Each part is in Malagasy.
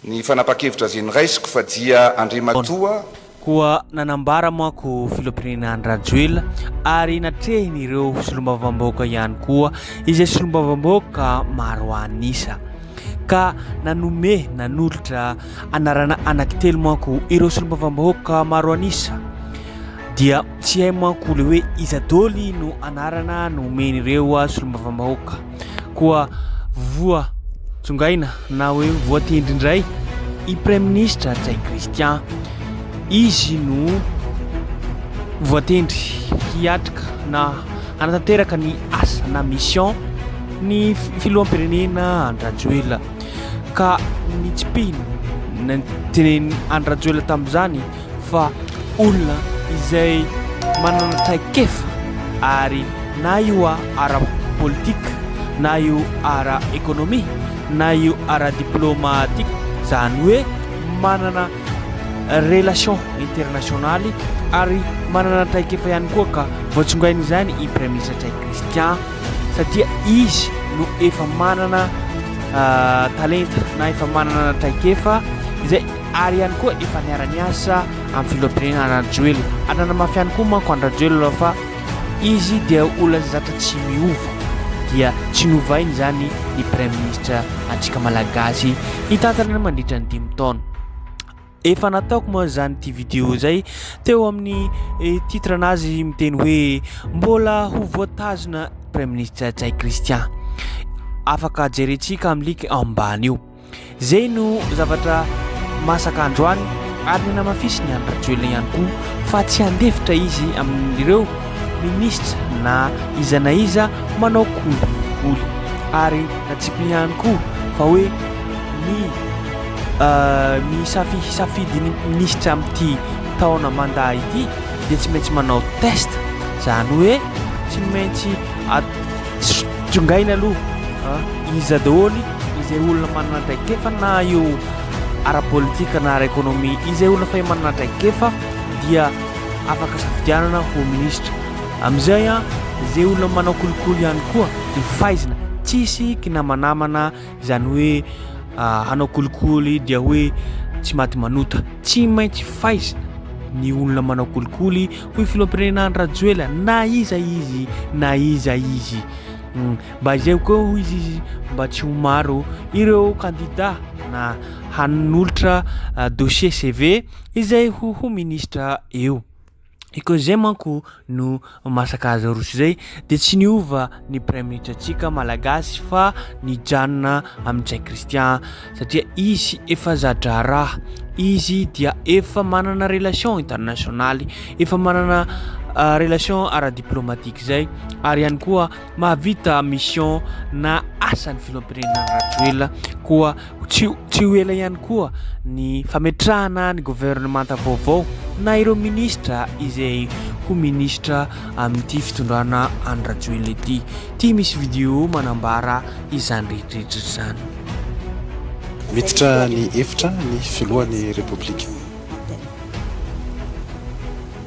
Ny fanapahan-kevitra ze noraisiko fa dia Andriamatoa. Koa nanambara manko filoham-pirenena Andry-Rajoelina ary natrehiny ireo solombavambahoaka ihany koa izay solombavambahoaka maro an'isa ka nanome nanolotra anarana anaky telo manko ireo solombavambahoaka maro an'isa dia tsy hay manko le hoe iza doly no anarana nomen'ireo solombavambahoaka koa voa tsongaina na hoe voatendry indray i Praiminisitra Ntsay Christian. Izy no voatendry hiatrika na hanatanteraka ny asa na mission ny Filoham-pirenena Andry Rajoelina. Ka nitsipihina ny tenenin'i Andry Rajoelina tamin'izany. fa olona izay manana traikefa ary na io ara politika na io ara ekonomia na io ara diplomatika zany hoe manana relation internationaly ary manana traikefa ihany koa ka voatsongaina izany i Praiministra Tray Christian satria izy no efa manana talenta na efa manana traikefa izay ary ihany koa efa niara-niasa amin'ny filoham-pirenena Rajoelina ary nanamafy ihany koa manko an-dRajoelina fa izy dia olona izay zatra tsy miova dia tsy novainy izany ny praiminisitra antsika malagasy hitantana ny mandritra ny dimy taona. Efa nataoko moa izany ity vidéo izay teo amin'ny eh, titre nazy miteny hoe mbola ho voatazona praiminisitra Jay Christian. Afaka jerentsika amin'ny link ambany io. Izay no zavatra masaka androany ary ny namafisiny any Rajoelina ihany koa fa tsy handefitra izy amin'ireo minisitra na iza na iza manao kolikoly ary natsipiny ihany koa fa hoe ny ny safi safidin'ny minisitra amin'ity taona manda ity dia tsy maintsy manao test izany hoe tsy maintsy Tsongaina aloha iza daholo izay olona manana traikefa na eo ara-politika na ara-ekonomia. Izay olona fay manana traikefa dia afaka safidianana ho minisitra. Amin'izay an, izay olona manao kolikoly ihany koa dia faizina. Tsisy kinamanamana. izany hoe hanao kolikoly dia hoe tsy maty manota tsy maintsy faizina ny olona manao kolikoly hoy filohampirenena Andry Rajoelina na iza izy na iza izy hmm, mba izay koa hoy izy izy mba tsy ho maro ireo kandida na hanolotra ah, dossier CV izay ho ho ministra eo I koa izay manko no masaka azy aroso izay dia tsy niova ny praiminitra antsika malagasy fa nijanona amin'ny Jay Christian satria izy efa zadraharaha izy dia efa manana relation internationaly efa manana euh, relation ara-diplomatique izay ary ihany koa Mahavita mission na asan'ny filoham-pirenena Rajoelina koa tsy tsy ho ela ihany koa ny fametrahana ny governemanta vaovao na ireo ministra izay ho ministra amin'ity fitondrana an'i Rajoelina ity. Ity misy video manambara izany rehetrarehetra izany. Miditra ny efitra ny filohan'ny Repoblika.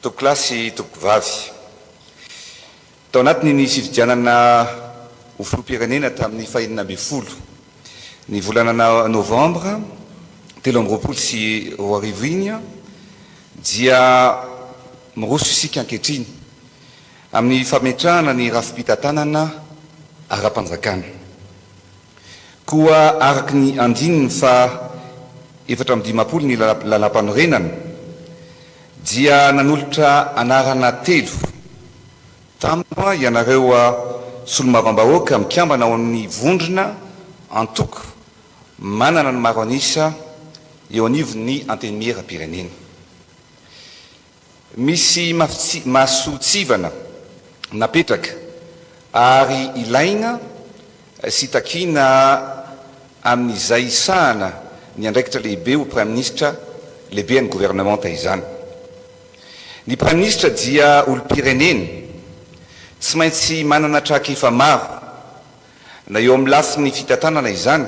Tompokolahy sy tompokovavy. Tao anatiny ny fifidianana ho filoham-pirenena tamin'ny fahenina ambin'ny folo ny volana novambra telo amby roapolo sy roa arivo iny dia miroso isika ankehitriny amin'ny fametrahana ny rafi-pitantanana ara-panjakana. Koa araka ny andininy faha efatra amby dimampolo ny Lalàmpanorenana dia nanolotra anarana telo tampoka ianareo Solombavam-bahoaka mikambana ao amin'ny vondrona, antoko, manana ny maro an'isa eo anivon'ny Antenimieram-pirenena. Misy masotsivana napetraka ary ilaina sy takiana amin'izay hisahana ny andraikitra lehibe ho Praiminisitra Lehiben'ny Governemanta izany. Ny Praiminisitra dia olom-pirenena, tsy maintsy manana trakefa maro, na eo amin'ny lafiny fitantanana izany,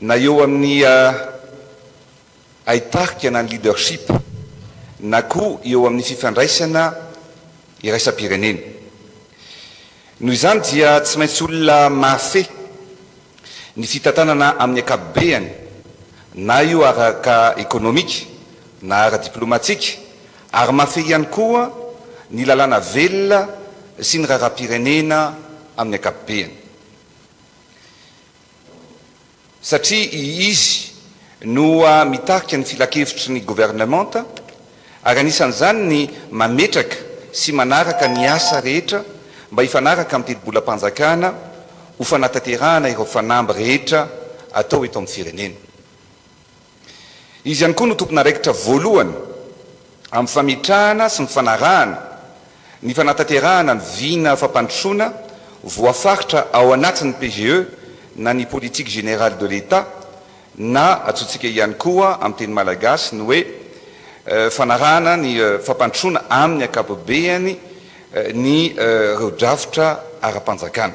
na eo amin'ny hay tarika na ny leadership na koa eo amin'ny fifandraisana iraisam-pirenena. Noho izany dia tsy maintsy olona mahafehy ny fitantanana amin'ny ankapobeany na io araka ekonomika na ara-diplomatika ary mahafehy ihany koa ny lalàna velona sy ny raharaham-pirenena amin'ny ankapobeany. satria izy no mitarika ny filankevitry ny governemanta ary anisan'izany ny mametraka sy manaraka ny asa rehetra mba hifanaraka amin'ny tetibolam-panjakana ho fanatanterahana ireo fanamby rehetra atao eto amin'ny firenena. Izy ihany koa no tompon'araikitra voalohany amin'ny fametrahana sy ny fanarahana ny fanatanterahana ny vina fampandrosoana voafaritra ao anatin'ny PGE na ny Politique Générale de l'Etat na antsointsika ihany koa amin'ny teny malagasy ny hoe fanarahana ny fampandrosoana amin'ny ankapobehany ny ireo drafitra ara-panjakana.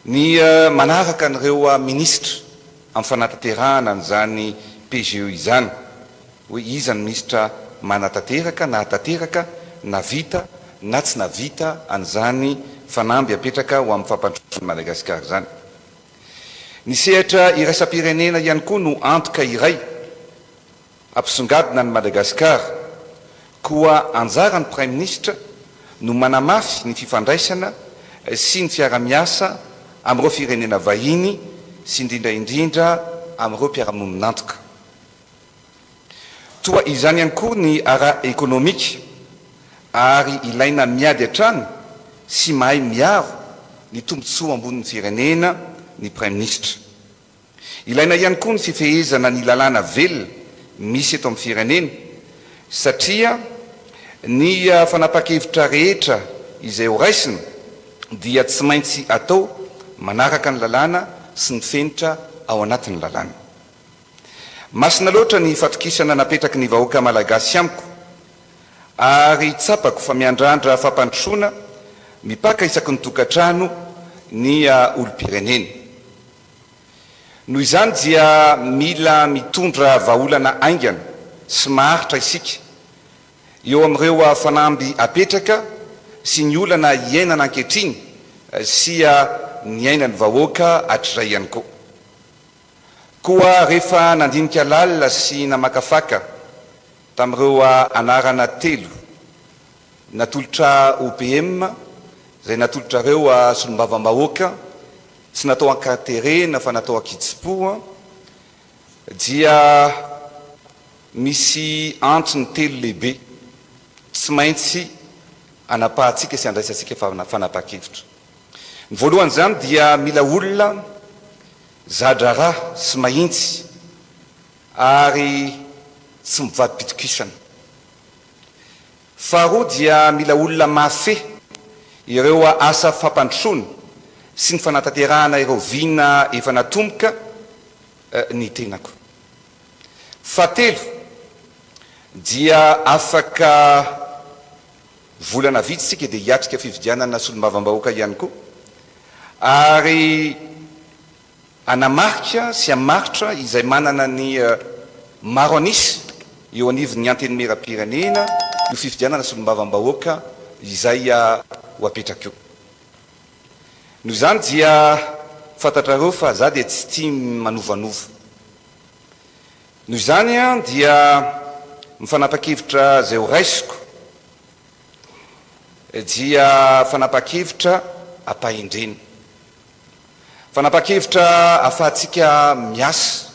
Ny manaraka an'ireo minisitra amin'ny fanatanterahana an'izany PGE izany, hoe iza ny minisitra manatanteraka, nahatanteraka, navita na tsy navita an'izany fanamby apetraka ho amin'ny fampandrosoana an'i Madagasikara izany. Ny sehatra iraisam-pirenena ihany koa no antoka iray. Ampisongadina an'i Madagasikara. Koa anjaran'ny Praiminisitra no manamafy ny fifandraisana sy ny fiarahamiasa amin'ireo firenena vahiny sy indrindra indrindra amin'ireo mpiara-monin'antoka. Toa izany ihany koa ny ara-ekonomika ary ilaina miady hatrany sy mahay miaro ny tombontsoa ambonin'ny firenena ny Praiminisitra. Ilaina ihany koa ny fifehezana ny lalàna velona misy eto amin'ny firenena satria ny fanapahan-kevitra rehetra izay ho raisina dia tsy maintsy atao manaraka ny lalàna sy ny fenitra ao anatin'ny lalàna. Masina loatra ny fatokisana napetraky ny vahoaka malagasy amiko ary tsapako fa miandrandra fampandrosoana mipaka isaky ny tokantrano ny olom-pirenena. Noho izany dia mila mitondra vahaolana haingana sy maharitra isika eo amin'ireo fanamby apetraka sy ny olana iainana ankehitriny sy ny ainan'ny vahoaka hatrizay ihany koa. Koa rehefa nandinika lalina sy namakafaka tamin'ireo anarana telo, Natolotra OPM, izay natolotrareo a solombavambahoaka, tsy natao an-katerena fa natao an-kitsim-po a, dia misy antony telo lehibe tsy maintsy anapahantsika sy andraisantsika fanapahan-kevitra. Ny voalohan'izany dia mila olona za-draharaha sy mahintsy ary tsy mivadi-pitokisana. Faharoa dia mila olona mahafehy ireo asa fampandrosoana sy ny fanatanterahana ireo vina efa natomboka ny tenako. Fahatelo dia afaka volana vitsy isika dia hiatrika fifidianana solombavambahoaka ihany koa ary Hanamarika sy hamaritra izay manana ny maro an'isa eo anivon'ny Antenimierampirenena io fifidianana solombavambahoaka izay ho apetraka io. Noho izany dia fantatrareo fa za dia tsy tia manovanova. Noho izany dia mifanapa-kevitra izay ho raisiko dia fanapa-kevitra ampahendrena. Fanapahan-kevitra ahafahantsika miasa,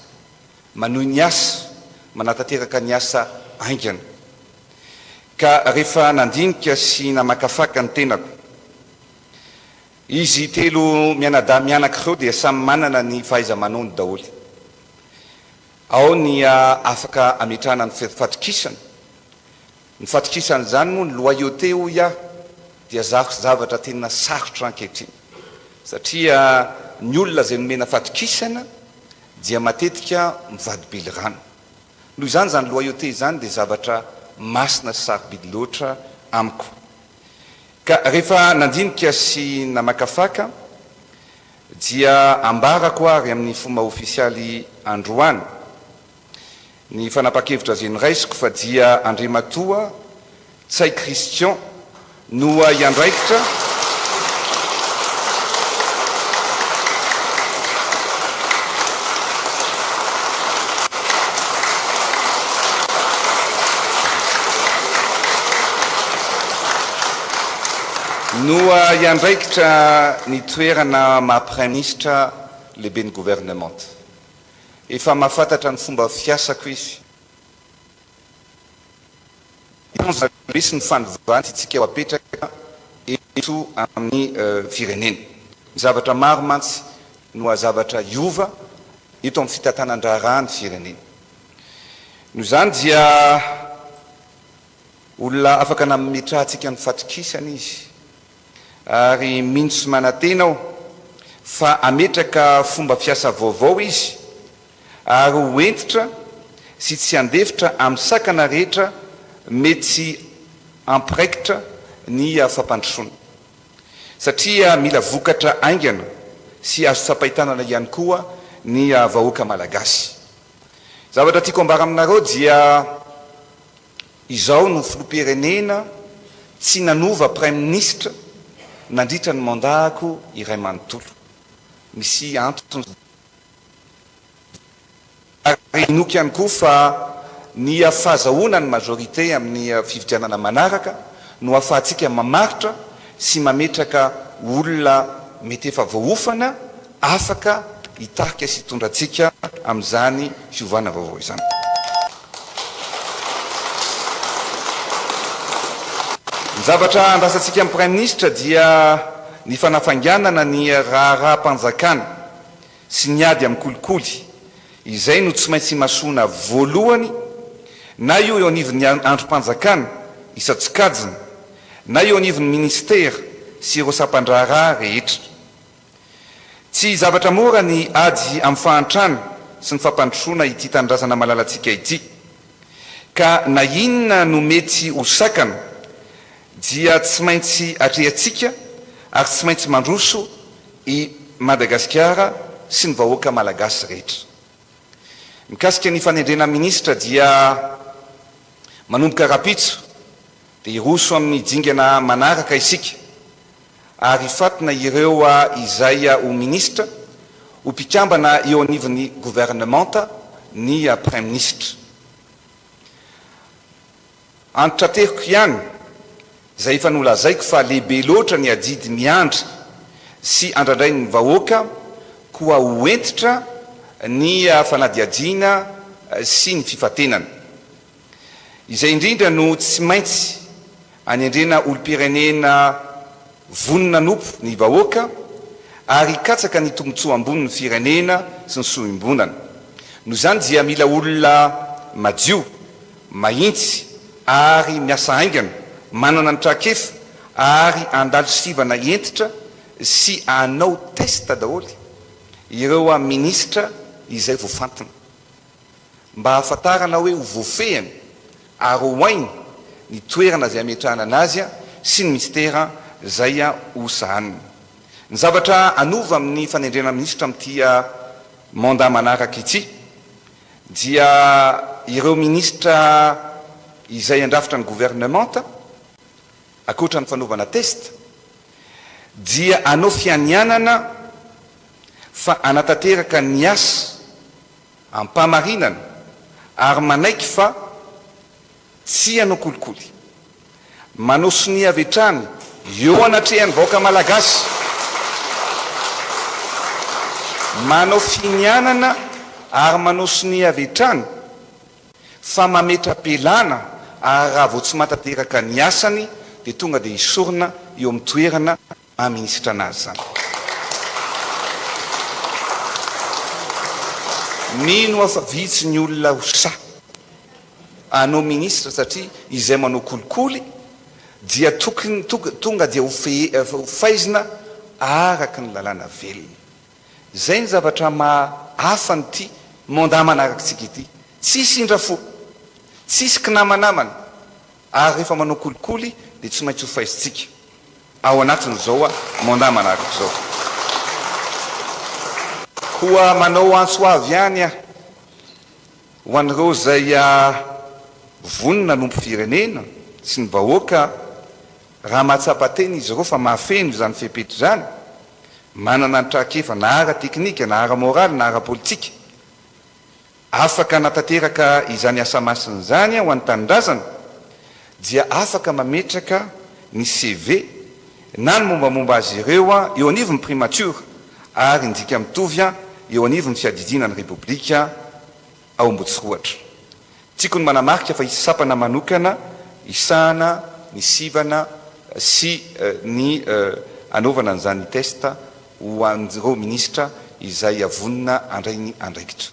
manohy ny asa, manatanteraka ny asa haingana. Ka rehefa nandinika sy namakafaka ny tenako, izy telo mianadahy mianaka ireo dia samy manana ny fahaiza-manaony daholo. Ao ny afaka ametrahana ny fatokisana. Ny fatokisan'izany moa ny loyauté hoy aho dia zavatra tena sarotra ankehitriny satria ny olona izay nomena fatokisana dia matetika mivadi-bily rano. Noho izany izany loyauté izany dia zavatra masina sy sarobidy loatra amiko. Ka rehefa nandinika sy namakafaka dia ambarako ary amin'ny fomba ofisialy androany Ny fanapa-kevitra ze niraisiko fa dia Andriamatoa Ntsay Christian no hiandraikitra no hiandraikitra ny toerana maha Praiminisitra Lehiben'ny Governemanta. Efa mahafantatra ny fomba fiasako izy. Ireto ny zavatra sy ny fanovana tiantsika ho apetraka eto amin'ny firenena. Ny zavatra maro mantsy no hazavatra hiova eto amin'ny fitantanan-draharaha ny firenena. Noho izany dia olona afaka nametrahantsika ny fatokisana izy. ary mino sy manantena aho fa hametraka fomba fiasa vaovao izy ary ho hentitra sy tsy handefitra amin'ny sakana rehetra mety tsy hampiraikitra ny fampandrosoana satria mila vokatra haingana sy azo tsapain-tanana ihany koa ny vahoaka malagasy. Zavatra tiako ambara aminareo dia. Izao no filoham-pirenena tsy nanova praiminisitra nandritra ny mandat-ko iray manontolo. Misy antony izany. Ary inoako ihany koa fa ny fahazahoana ny majorité amin'ny fifidianana manaraka no ahafahantsika mamaritra sy mametraka olona mety efa voaofana, afaka hitarika sy hitondra antsika amin'izany fiovana vaovao izany. Ny zavatra andrasantsika amin'ny Praiminisitra dia ny fanafainganana ny raharaham-panjakana sy ny ady amin'ny kolikoly. Izay no tsy maintsy imasoana voalohany, na io eo anivon'ny andrim-panjakana isan-tsokajiny, na eo anivon'ny Minisitera sy ireo sampan-draharaha rehetra. Tsy zavatra mora ny ady amin'ny fahantrana sy ny fampandrosoana ity tanindrazana malalantsika ity. Ka na inona no mety ho sakana dia tsy maintsy atrehantsika ary tsy maintsy mandroso i Madagasikara sy ny vahoaka malagasy rehetra. Mikasika ny fanendrena minisitra dia manomboka rahampitso dia hiroso amin'ny dingana manaraka isika. ary hifantina ireo izay ho minisitra, ho mpikambana eo anivon'ny governemanta ny praiminisitra. Antitrateriko ihany izay efa nolazaiko fa lehibe loatra ny adidy miandry sy andrandrain'ny vahoaka koa ho hentitra ny fanadihadiana sy ny fifantenana. Izay indrindra no tsy maintsy anendrena olom-pirenena vonona hanompo ny vahoaka ary hikatsaka ny tombontsoa ambonin'ny firenena sy ny soa iombonana. Noho izany dia mila olona madio, mahintsy ary miasa haingana, manana ny trakefa ary handalo sivana hentitra sy hanao test daholo ireo minisitra izay voafantina. mba hahafantarana hoe ho voafehiny ary ho hainy ny toerana izay hametrahana anazy sy ny minisitera izay ho sahaniny. Ny zavatra hanova amin'ny fanendrena minisitra amin'ity mandat manaraka ity dia ireo minisitra izay handrafitra ny governemanta, ankoatra ny fanaovana test, dia hanao fianianana fa hanatanteraka ny asa. Am-pamarinana, ary manaiky fa tsy hanao kolikoly. Manao sonia avy hatrany eo anatrehan'ny vahoaka malagasy. Manao finianana ary manao sonia avy hatrany fa mametra-pialana ary raha vao tsy mahatanteraka ny asany dia tonga dia esorina eo amin'ny toerana maha minisitra anazy izany. Mino aho fa vitsy ny olona ho sahy hanao minisitra satria izay manao kolikoly dia tokony tonga dia ho faizina araka ny lalàna velona. Izay ny zavatra maha hafa an'ity mandat manarakitsika ity. Tsisy indrafo, tsisy kinamanamana. Ary rehefa manao kolikoly dia tsy maintsy hofaisintsika ao anatin'izao mandat manaraka izao. Koa manao antso avo ihany aho ho an'ireo izay vonona hanompo firenena sy ny vahoaka raha mahatsapa tena izy ireo fa mahafeno izany fepetra izany, manana ny trakefa na ara-teknika na ara-moraly na ara-politika. Afaka hanatanteraka izany asa masina izany ho an'ny tanindrazana dia afaka mametraka ny CV na ny mombamomba azy ireo eo anivon'ny Primatiora ary ny dika mitovy eo anivon'ny Fiadidiana ny Repoblika ao Ambotsiroatra. Tiako ny manamarika fa hisy sampana manokana hisahana ny sivana sy ny hanaovana an'izany test ho an'ireo minisitra izay vonona handray ny andraikitra.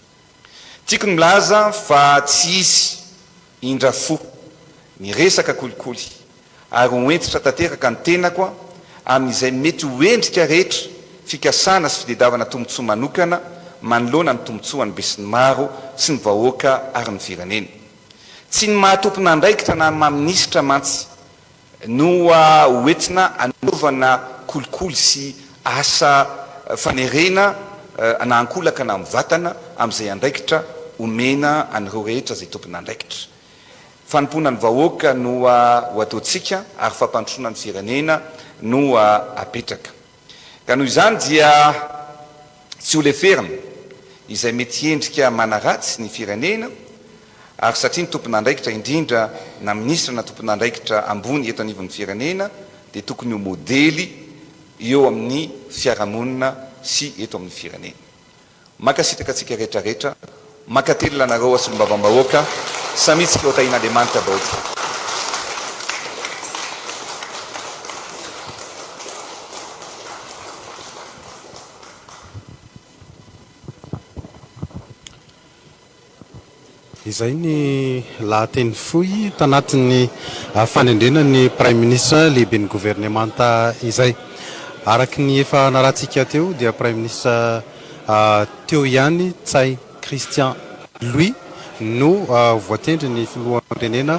Tiako ny milaza fa tsy hisy indra fo ny resaka kolikoly ary ho hentitra tanteraka ny tenako amin'izay mety ho endrika rehetra fikasana sy fitedavana tombontsoa manokana manoloana ny tombontsoan'ny besinimaro sy ny vahoaka ary ny firenena. Tsy ny maha tompon'andraikitra na ny maha minisitra mantsy no hoentina hanaovana kolikoly sy asa fanerena na ankolaka na mivatana amin'izay andraikitra omena an'ireo rehetra izay tompon'andraikitra. Fanompoana ny vahoaka no ho ataontsika ary fampandrosoana ny firenena no apetraka. Ka noho izany dia tsy ho leferina izay mety hiendrika manaratsy ny firenena ary satria ny tompon'andraikitra indrindra na minisitra na tompon'andraikitra ambony eto anivon'ny firenena dia tokony ho modely eo amin'ny fiarahamonina sy eto amin'ny firenena. Mankasitraka antsika rehetra rehetra, mankatelina anareo a Solombavambahoaka, samia tsika ho tahin'Andriamanitra daholo. Izay ny lahateny fohy tanatin'ny fanendrena ny Praiminisitra Lehiben'ny Governemanta izay. Araka ny efa narahantsika teo dia Praiminisitra teo ihany Ntsay Christian Louis no voatendry ny Filoham-pirenena.